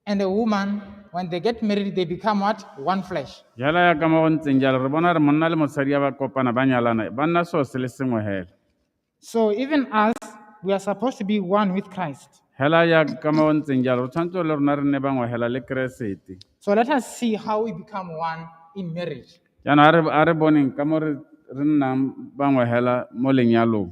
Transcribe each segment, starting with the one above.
and a woman, when they get married, they become what? One flesh. jalo ya ka mo go ntseng jalo re bona gore monna le mosadi ya ba kopana ba nyalana ba nna seo se le sengwe hela So even us, we are supposed to be one with Christ. hela ya ka mo go ntseng jalo re tshwanetse le rona re nne bangwe hela le keresete So let us see how we become one in marriage. jaanong a re- a re boneng ka mo re re nnang bangwe hela mo lenyalong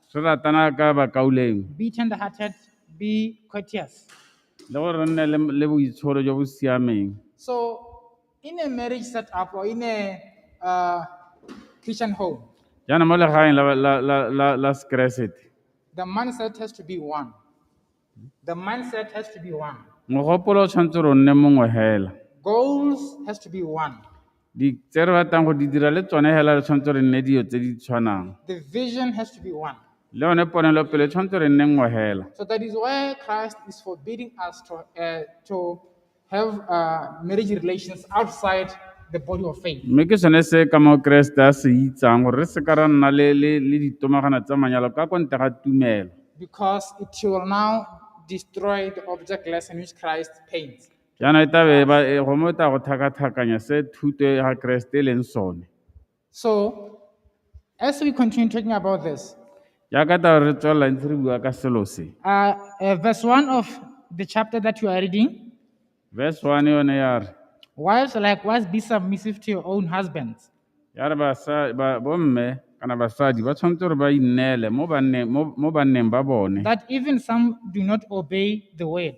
Re ratana ka bakaulengwe. Be tenderhearted, be courteous. Le gore re nne le- le boitsholo jo bo siameng. So, in a marriage setup or in a uh, Christian home, Jaanong mo legaeng la, la, la, la, la Sekeresete, the mindset has to be one. The mindset has to be one. Mogopolo o tshwanetse gore o nne mongwe hela. Goals has to be one. Di tse re batlang go di dira le tsone hela re tshwanetse gore nne dilo tse di tshwanang. The vision has to be one. Le yone ponelopele e tshwanetse gore nne nngwe hela. So that is why Christ is forbidding us to, uh, to have uh, marriage relations outside the body of faith. mme ke sone se ka moo keresete a se itsang gore re se ka ra nna le le le ditomagana tsa manyalo ka kwa ntle ga tumelo because it will now destroy the object lesson which Christ paints. jaanong e tabe ba e- gongwe e tla go thakathakanya se thuto ya ga keresete e leng sone So, as we continue talking about this, jaaka tao re tswelela ntse re bua ka selo se uh, uh, verse 1 of the chapter that you are reading verse one yone ya re wives likewise be submissive to your own husbands. ya re basa- ba- bomme kana basadi ba tshwanetse gore ba inneele mo banneng- mo- mo banneng ba bone That even some do not obey the word.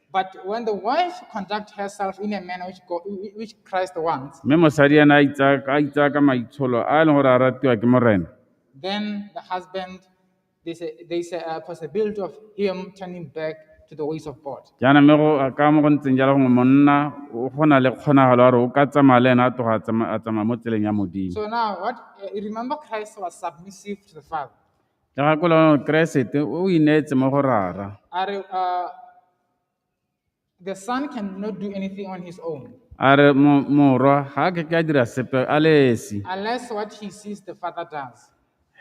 But when the wife conduct herself in a manner which, God, which Christ wants, mme mosadi ena a itsaya ka- a itsaya ka maitsholo a e leng gore a ratiwa ke morena then the husband, there's a, there's a, a possibility of him turning back to the ways of God. jaana mme go ka mo go ntseng jalo gongwe monna o go na le kgonagalo ya gore o ka tsamaya le ena a tloga a tsama- a tsamaya mo tseleng ya modimo So now, what uh, remember, Christ was submissive to the Father. Gakologelwa Keresete o ineetse mo go Rara. A re uh, the son cannot do anything on his own A re mo- morwa ga a ke ke a dira sepe a le esi. unless what he sees the father does.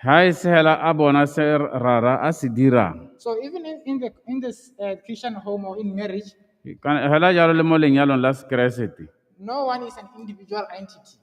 Ga e se hela a bona se Rara a se dirang. So even in, in the in this uh, Christian home or in marriage, Kana- Hela jalo le mo lenyalong la Sekeresete. no one is an individual entity.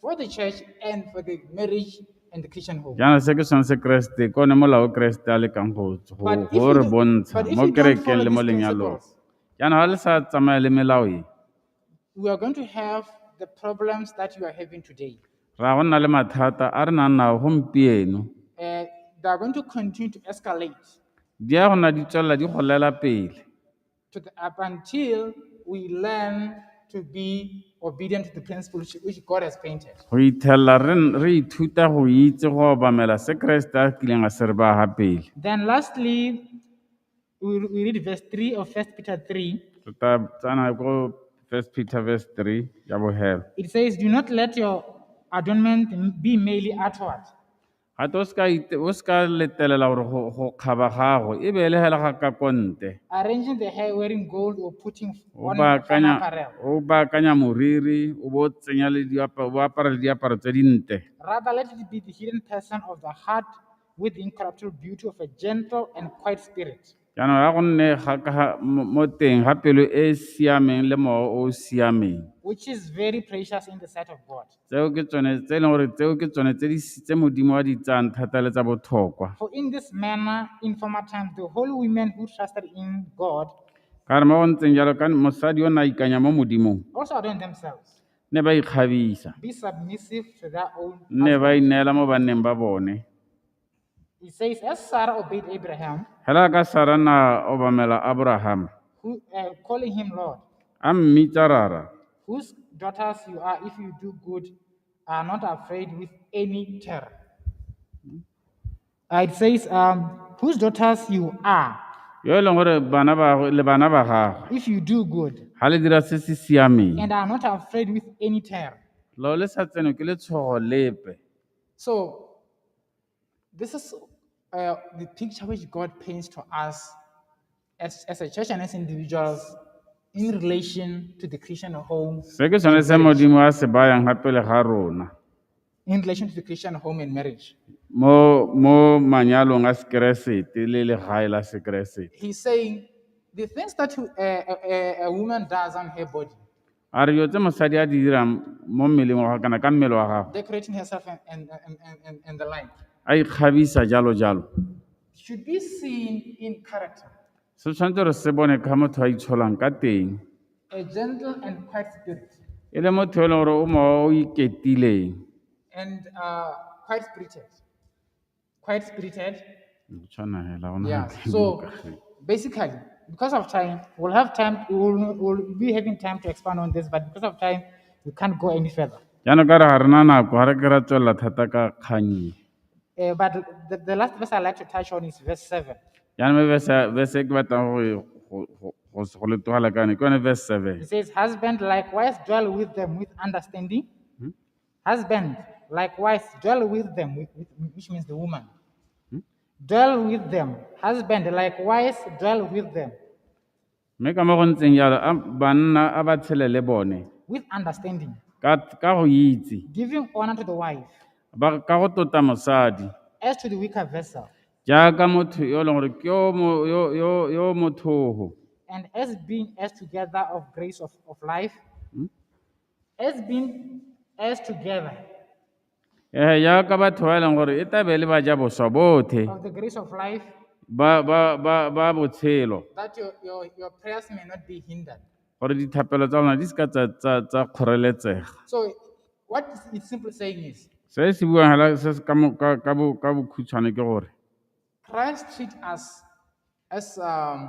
for the church and for the marriage and the Christian home. jaana se ke sone se keresete ke one molao o keresete a lekang go go- But if go you re do- bontsha but if mo you don't kerekeng follow le mo these lenyalong principles, jaana ga le sa tsamaya le melao e We are going to have the problems that you are having today. ra go nna le mathata a re nang nao gompieno Uh, they are going to continue to escalate. di ya gona di tswelela di golela pele to the, up until we learn to be obedient to the principle which, which God has painted. go ithelela re n- re ithuta go itse go obamela se keresete a kileng a se re ba gapele Then lastly, we, we read verse 3 of 1 Peter 3. re ta tsana ko first peter verse 3 ya bogelo It says, Do not let your adornment be merely outward, Ga te o seka ite- o seka letelela gore go go kgaba gago e beele hela ga ka konte. Arranging the hair, wearing gold or putting O on baakanya formal apparel. o baakanya moriri o bo o tsenya le diaparo o apara le diaparo tse dinte. Rather, let it be the hidden person of the heart with the incorruptible beauty of a gentle and quiet spirit. Jaanong ya go nne mo teng ga pelo e e siameng le mowa o o siameng. Which is very precious in the sight of God. Tseo ke tsone tse e leng gore tseo ke tsone tse di tse Modimo wa di tsayang thata le tsa botlhokwa. For in this manner in former times the holy women who trusted in God. Ka re mo go ntseng jalo ka mosadi o ne a ikanya mo Modimong. Also adorned themselves. Ne ba ikgabisa. Be submissive to their own. Ne ba ineela mo banneng ba bone. It says, as Sarah obeyed Abraham, Hela ka Sara na obamela Abraham, who uh, calling him Lord, a mmitsa rara. whose daughters you are, if you do good, are not afraid with any terror. Uh, it says, um, whose daughters you are, Yo e leng gore bana ba gagwe- le bana ba gagwe if you do good, ga le dira se se siameng. and are not afraid with any terror. Lo le sa tseno ke letshogo lepe. So this is uh, the picture which God paints to us as, as a church and as individuals in relation to the Christian home, Se ke sone se Modimo a se bayang ga pele ga rona in relation to the Christian home and marriage. mo mo manyalong a sekeresete le legae la sekeresete. He's saying the things that uh, a, a, a woman does on her body, A re dilo tse mosadi a di dirang mo mmeleng wa gagwe kana ka mmele wa gagwe, decorating herself and, and, and, and, and, and the like, a ikgabisa jalo jalo, should be seen in character. se tshwanetse gore se bone ka motho a itsholang ka teng, A gentle and quiet spirit. e le motho yo e leng gore o mo o iketileng, And uh, quiet spirited. quite spirited. Yeah. So basically, because of time, we'll have time, we'll, we'll be having time to expand on this, but because of time, we can't go any further. jaanong ka re ga re na nako ga re ke ra tswelela thata ka kgang e Uh, but the, the last verse I'd like to touch on is verse 7. jaanong me verse ya- verse e ke batlang go e- go- go- go s- go le tlogela ka yone ke yone verse seven It says, Husband likewise dwell with them with understanding, Husband, likewise, dwell with them, which means the woman. Hmm? Dwell with them. Husband, likewise, dwell with them. mme ka mo go ntseng jalo banna a ba tshele le bone with understanding ka go itse giving honor to the wife ba ka go tota mosadi as to the weaker vessel jaaka motho yo e leng gore ke yo mothogo and as being as together of grace of, of life hmm? As been as together eh jaaka batho ba e leng gore e tlabe le ba ja boswa bothe of the grace of life, ba ba ba ba botshelo that your, your, your prayers may not be hindered. gore dithapelo tsa lona di seka tsa tsa tsa kgoreletsega So, what is it simply saying is se se buang fela se se ka mo- ka ka bo- ka bokhutshwane ke gore Christ treat us as um,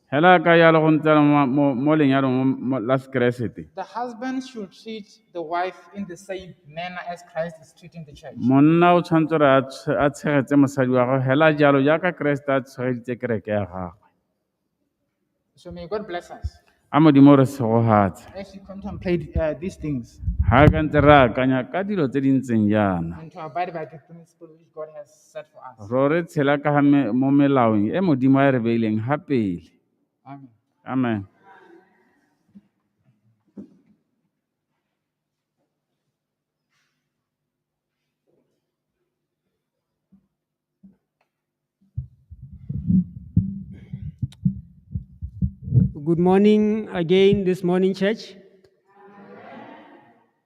Hela ka ya le go ntsela mo lenyalong la Sekeresete. The husband should treat the wife in the same manner as Christ is treating the church. Monna o tshwanetse re a tshegetse mosadi wa gagwe hela jalo jaaka Keresete a tshegeditse kereke ya gagwe. So may God bless us. A modimo re segogatse. As you contemplate uh, these things. Ha ka ntse re akanya ka dilo tse di ntseng jaana. And to abide by the principle which God has Ro re tshela ka mo melaong e Modimo a e re beileng ha pele. Amen. Amen. Good morning again this morning, church.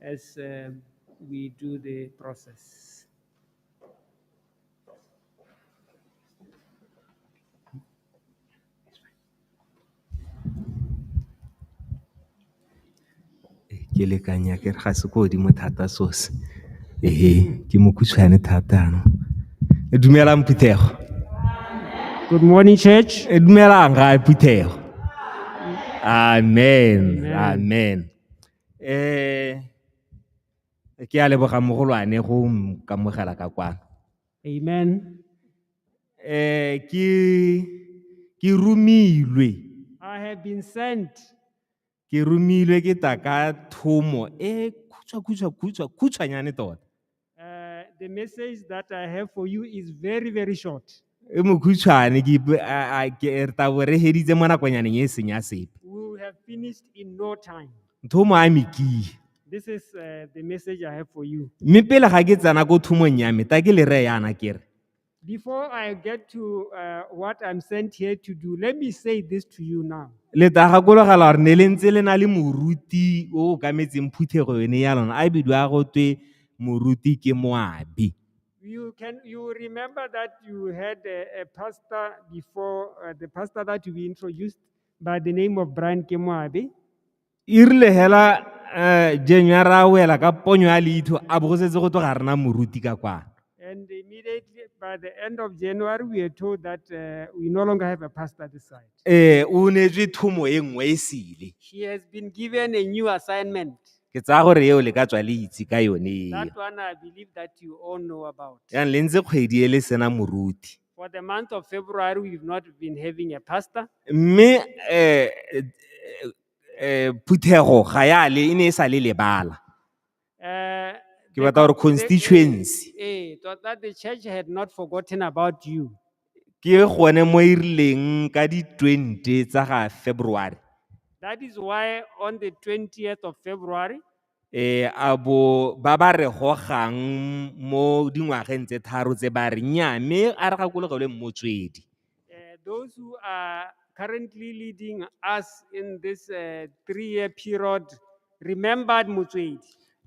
as we do the process. Ke lekanya ke re ga se ko godimo thata so se. Ee, ke mokhutswane thata no. Dumelang phuthego. Good morning, church. E dumelang ga phuthego. Amen. Amen. Eh, ke a leboga mogolwane go nkamogela ka kwano. Amen. Eh, ke, ke rumilwe, I have been sent. ke rumilwe ke taka thomo e khutshwa khutshwa khutshwa khutshwanyane tota. Uh, the message that I have for you is very, very short. e mokhutshwane ke ipe- a- a- ke re tabo re heditse mo nakwanyaneng e seng ya sepe We will have finished in no time. ntho o mo amikile This is uh, the message I have for you. mme pele ga ke tsena ko thumong ya me ta ke le reye yana ke re Before I get to uh, what I'm sent here to do, let me say this to you now. le tla gakologelwa gore ne le ntse le na le moruti o o kametseng phuthego yone ya lona a bidiwa go twe moruti ke moabi You can you remember that you had a, a pastor before uh, the pastor that we introduced by the name of Brian Kemoabe? E rile hela uh, January a wela ka ponyo ya leitho a bo go setse go tlo ga rena moruti ka kwana. And immediately by the end of January, we are told that uh, we no longer have a pastor this side. Eh, o neetswe thomo e nngwe e sele. She has been given a new assignment. Ke tsaya gore eo le ka tswa le itse ka yone eo. That one I believe that you all know about. Yang le ntse kgwedi e le sena moruti. For the month of February, we've not been having a pastor. Mme eh eh, eh phuthego ga ya le e ne e sa le lebala. Uh, Ke the batla gore con- the- constituency Eh, it was that the church had not forgotten about you. ke gone mo e rileng ka di 20 tsa ga February. That is why on the 20th of February, E, a bo ba ba re gogang mo dingwageng tse tharo tse ba re nnyaa mme a re gakologelwe mmotswedi Uh, those who are currently leading us in this uh, three-year period remembered Mutswedi.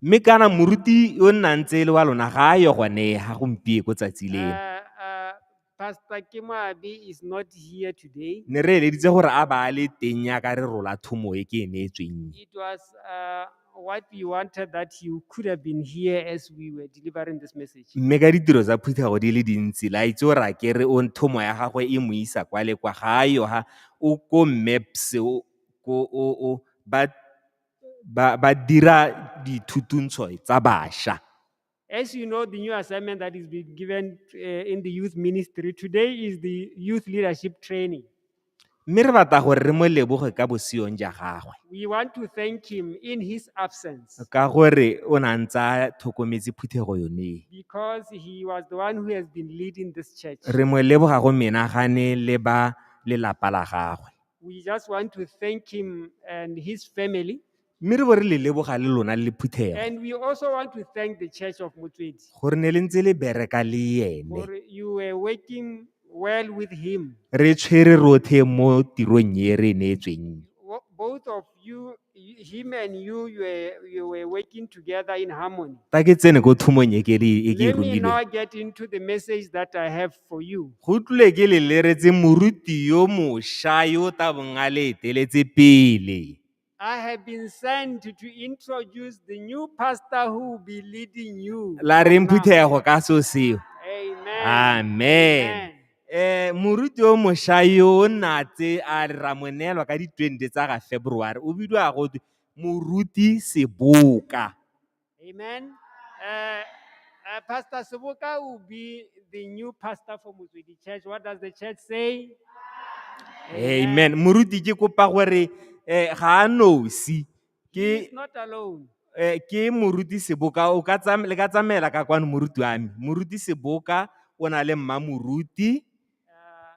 mme kana moruti yo nnang tse le wa lona ga a yo gone ga gompieko tsatsi leno Uh, uh, Pastor Kimoabi is not here today. ne re eleditse gore a ba a le teng yaka re rola thomo e ke e neetsweng It was uh, what we wanted that you could have been here as we were delivering this message. mme ka ditiro tsa phuthego di le dintsi la itse o ra kere o thomo ya gagwe e mo isa kwa le kwa ga a yo ha o ko maps o ko o o ba ba ba dira dithuthuntshoi tsa basha As you know, the new assignment that is being given uh, in the youth ministry today is the youth leadership training. mme re batla gore re mo leboge ka bosiong ja gagwe We want to thank him in his absence ka gore o na ntse a tlhokometse phuthego yone because he was the one who has been leading this church. re mo leboga go menagane le ba lelapa la gagwe We just want to thank him and his family Mme re bo re le leboga le lona le phuthego. And we also want to thank the Church of Motswedi Gore ne le ntse le bereka le ene. for you were working well with him. Re tshwere rothe mo tirong e re e neetsweng. Wo- Both of you, y- him and you, you were, you were working together in harmony. Fa ke tsene ko thumong e ke re- e ke e Let me romileng. now get into the message that I have for you. Go tlile ke le leretse moruti yo mosha yo o tabong a le eteletse pele. I have been sent to introduce the new pastor who will be leading you. la re mphuthega go ka so seo Amen. amen eh moruti o mosha yo o nna tse a re ramonelwa ka di 20 tsa ga february o bidiwa go twe moruti seboka Amen. Uh, uh, Pastor Subuka will be the new pastor for Muzwidi Church. What does the church say? amen moruti ke kopa gore um ga a nosi He is ke not alone. eh, ke moruti seboka o ka tsam- le ka tsamaela ka kwano moruti wa me moruti seboka o na le mma moruti Uh,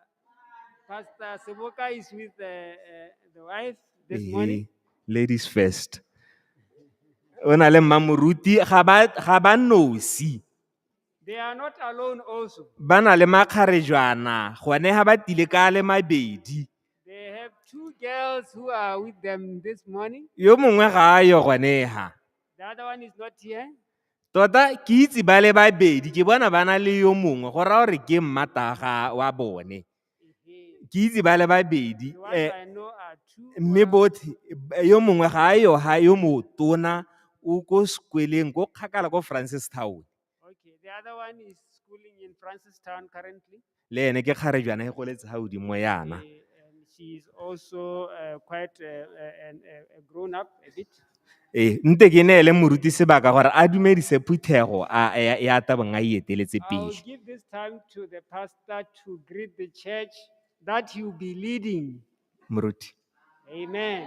Pastor Siboka is with uh, uh, the wife this Ehe, morning. ladies first o na le mmamoruti ga ba ga ba nosi They are not alone also. ba na le makgarejwana gone ga ba tile ka a le mabedi They have two girls who are with them this morning. yo mongwe ga a yo gone ga The other one is not here. Tota ke itse ba le babedi ke bona ba na le yo mongwe go raya gore ke mmataga wa bone. Ke itse ba le babedi eh, mme botlhe eh, yo mongwe ga a yo ha yo motona o ko sekweleng ko kgakala ko Francistown. Okay, the other one is schooling in Francistown currently. Le ene ke kgare jaana e goletse ha godimo yana. Eh, and she's also uh, quite uh, uh, an, uh, a grown up a bit. Ee, nte ke ne ele moruti sebaka gore a dumedise phuthego a ya ya tabong a e eteletse I'll pele. give this time to the pastor to greet the church that he'll be leading. Moruti. Amen.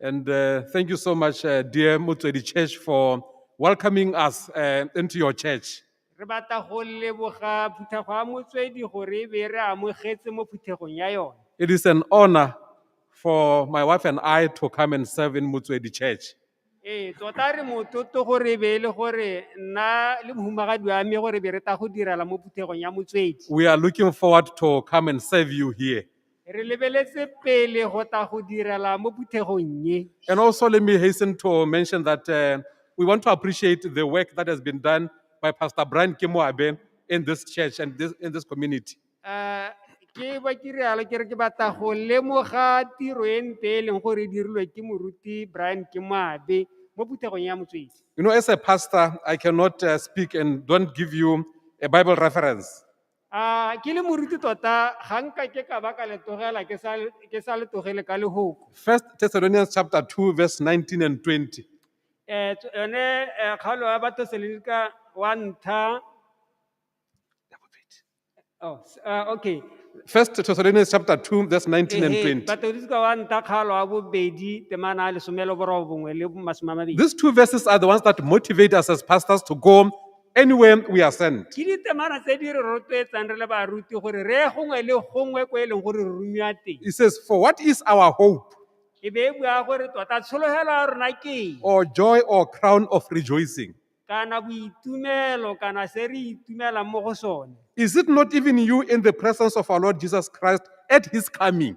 And uh, thank you so much, uh, dear Motswedi Church, for welcoming us uh, into your church. re batla go leboga phuthego ya motswedi gore e be re amogetse mo phuthegong ya yone It is an honor for my wife and I to come and serve in Motswedi Church. ee tota re mototo gore e be e le gore nna le mohumagadi wa me gore be re ta go direla mo phuthegong ya motswedi We are looking forward to come and serve you here. Re lebeletse pele go tla go direla mo phuthegong ye. And also, let me hasten to mention that uh, we want to appreciate the work that has been done by Pastor Brian Kimoabe in this church and this, in this community. Eh, Ke ba ke rialo ke re ke batla go lemoga tiro e nte e leng gore e dirilwe ke moruti Brian Kimoabe mo phuthegong ya motswedi. You know, as a pastor, I cannot uh, speak and don't give you a Bible reference. A ke le moruti tota ga nka ke ka ba ka le tlogela ke sa ke sa le tlogele ka lehoko. First Thessalonians chapter 2 verse 19 and 20. Eh tso- yone eh, kgaolo ya batho selenika wa ntlha oh, s- ah, okay First Thessalonians chapter 2 verse 19 and Ehe, 20. batodisika wa ntlha kgaolo wa bobedi temana a lesome le borobongwe le masome a mabedi These two verses are the ones that motivate us as pastors to go anywhere we are sent. ke ditemana tse di re rotloetsang re le baruti gore re ye gongwe le gongwe ko e leng gore re rumiwa teng He says, For what is our hope, e be e bua gore tota tshologelo ya rona ke eng? or joy, or crown of rejoicing? kana boitumelo kana se re itumelang mo go sone Is it not even you in the presence of our Lord Jesus Christ at his coming?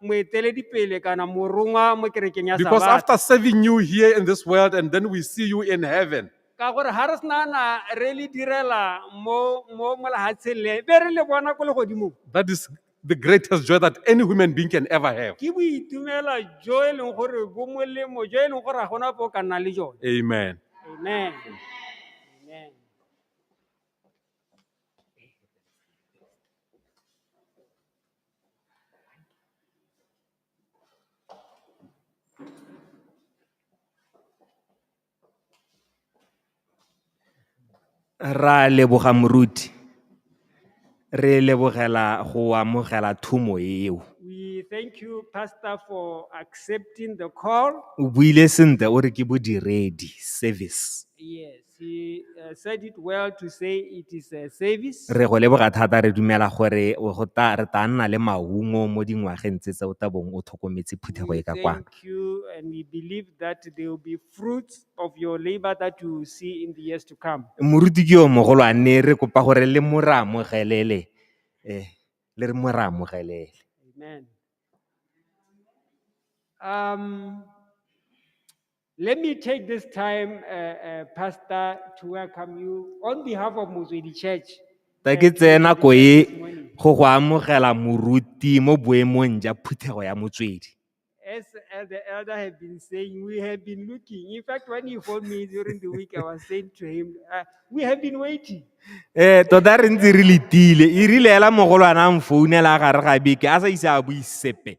moeteledipele kana morongwa mo kerekeng ya Because Sabata. after serving you here in this world and then we see you in heaven, ka gore ga re sena na re le direla mo mo mo lehatsheng le be re le bona ko legodimong that is the greatest joy that any human being can ever have. ke boitumela jo e leng gore bo molemo jo e leng gore ga gona po o ka nnang le jone Amen. amen amen Ra leboga moruti, re lebogela go amogela thumo eo. We thank you, Pastor, for accepting the call. O buile sentle o re ke bodiredi, service. Yes. He uh, said it well to say it is a service. re go leboga thata re dumela gore o go ta re tla nna le maungo mo dingwageng tse tse o tla bong o tlhokometse phuthego We e ka kwano thank you and we believe that there will be fruits of your labor that you will see in the years to come. moruti ke yo mogolo a nne re kopa gore le mo re amogelele eh le re mo re amogelele Amen. Um, Let me take this time, uh, uh, Pastor, to welcome you on behalf of Mozwedi Church. ta ke tseye nako e go go amogela moruti mo boemong ja phuthego ya motswedi As uh, the elder had been saying, we have been looking. In fact, when he phoned me during the week, I was saying to him, uh, we have been waiting. ee tota re ntse re letile e rile ela mogolwana a mfounela a gare ga beke a sa ise a bue sepe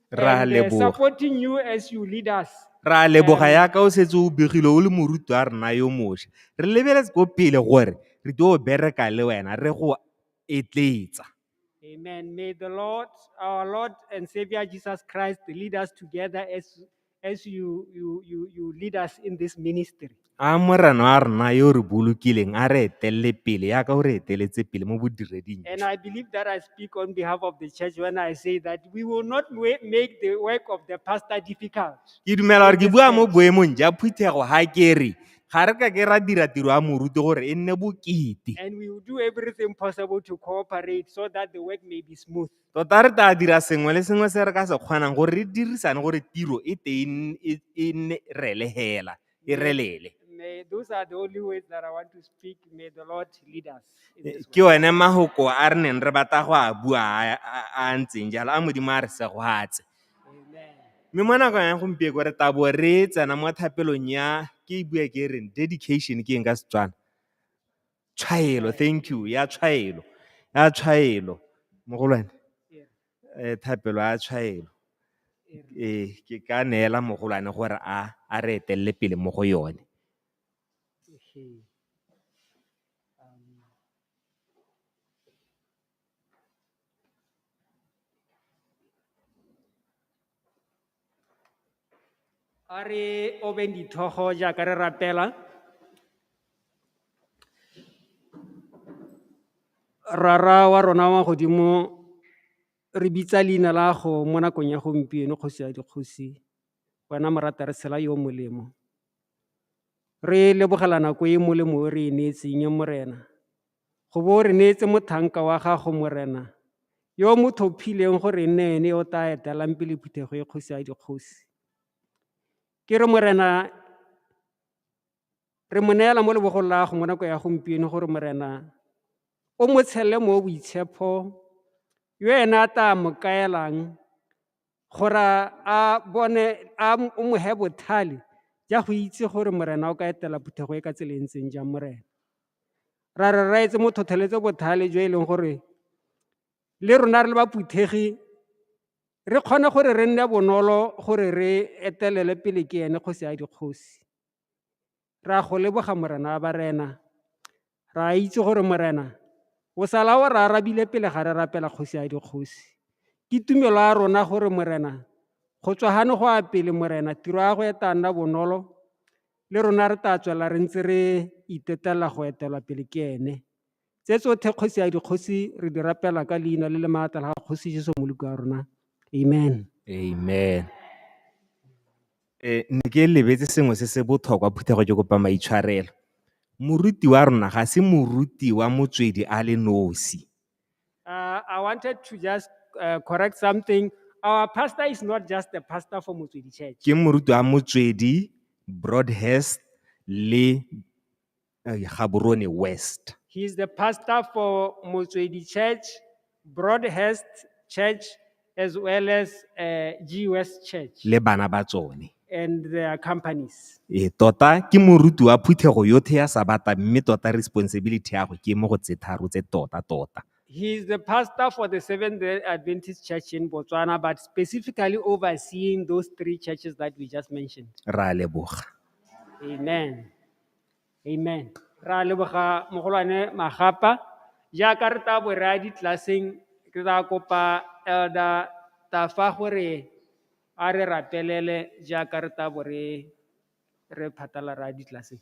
Re a and uh, leboga. supporting you as you lead us. Re a leboga Um, yaka o setse o begile o le moruti wa rena yo mosha. Re lebeletse ko pele gore re tlo bereka le wena re go etletsa. Amen. May the Lord, our Lord and Savior Jesus Christ, lead us together as as you, you, you, you lead us in this ministry. a morena wa rena yo o re bolokileng a re etelele pele yaka o re eteletse pele mo bodireding And I believe that I speak on behalf of the church when I say that we will not wa- make the work of the pastor difficult. ke dumela gore ke bua mo boemong ja phuthego ga kere ga re ka ke ra dira tiro ya moruti gore e nne bokete And we will do everything possible to cooperate so that the work may be smooth. Tota re tla dira sengwe le sengwe se re ka se kgonang gore re dirisane gore tiro e teng e, e nne rele hela, e relele. May, those are the only words that I want to speak. May the Lord lead us. in this way. Ke one mahoko a re neng re batla go a bua a- a- a a ntseng jalo, a Modimo a re segwatse. Amen. Mme mo nakong ya gompieko re tla bo re tsena mo thapelong ya ke e bua ke reng dedication ke eng ka Setswana. tshwaelo thank you ya tshwaelo ya tshwaelo mogolwane eh thapelo ya tshwaelo eh ke ka neela mogolwane gore a a re etelele pele mo go yone Ehe. Um, a re obeng dithogo jaaka re rapela rara wa rona wa godimo re bitsa leina la go mo nakong ya gompieno kgosi ya dikgosi wena morata re tshela yo molemo re lebogela nako e molemo o re e neetseng e morena Go bo re neetse mothanka wa gago, Morena, yo mo thophileng gore e nne ene yo o tla etelang pele phuthego e kgosi ya dikgosi. Ke re, Morena, re mo neela mo lebogong la gago mo nako ya gompieno gore, Morena, o mo tshelele mo boitshepho yo ena a tla mo kaelang gore a bone a o mo he bothale ja go itse gore morena o ka etela phuthego e ka tsela e ntseng jang morena ra re ra etse mo thotheletse bothale jo e leng gore le rona re le ba phuthegi re kgone gore re nne bonolo gore re etelele pele ke ene kgosi ya dikgosi Re a go leboga Morena wa barena. Re a itse gore Morena o sala o re arabile pele ga re rapela kgosi ya dikgosi. Ke tumelo ya rona gore Morena go tswa gane go a pele Morena tiro ya go e tla nna bonolo le rona re tla tswela re ntse re itetelela go etelwa pele ke ene. Tse tsotlhe kgosi ya dikgosi re di rapela ka leina le le maatla la kgosi Jesu Moloko wa rona. Amen. Amen. Eh ne ke lebetse sengwe se se botlhokwa phuthego ke kopa maitshwarelo. Moruti wa rona ga se moruti wa motswedi a le nosi. Uh, I wanted to just uh, correct something. Our pastor is not just a pastor for Motswedi Church. Ke moruti wa motswedi, broadhurst le uh, Gaborone West. He is the pastor for Motswedi Church, Broadhurst Church, as well as uh, G West Church le bana ba tsone. and their companies. E tota ke moruti wa phuthego yotlhe ya sabata mme tota responsibility ya go ke mo go tse tharo tse tota tota. He is the pastor for the Seventh day Adventist Church in Botswana, but specifically overseeing those three churches that we just mentioned. Ra leboga. Amen. Amen. Ra leboga mogolwane Magapa. Jaaka re tla bo re ya ditlelaseng, ke tla kopa Elder Tafa gore a re rapelele jaaka re tla bo re re phatala ra ya ditlelaseng.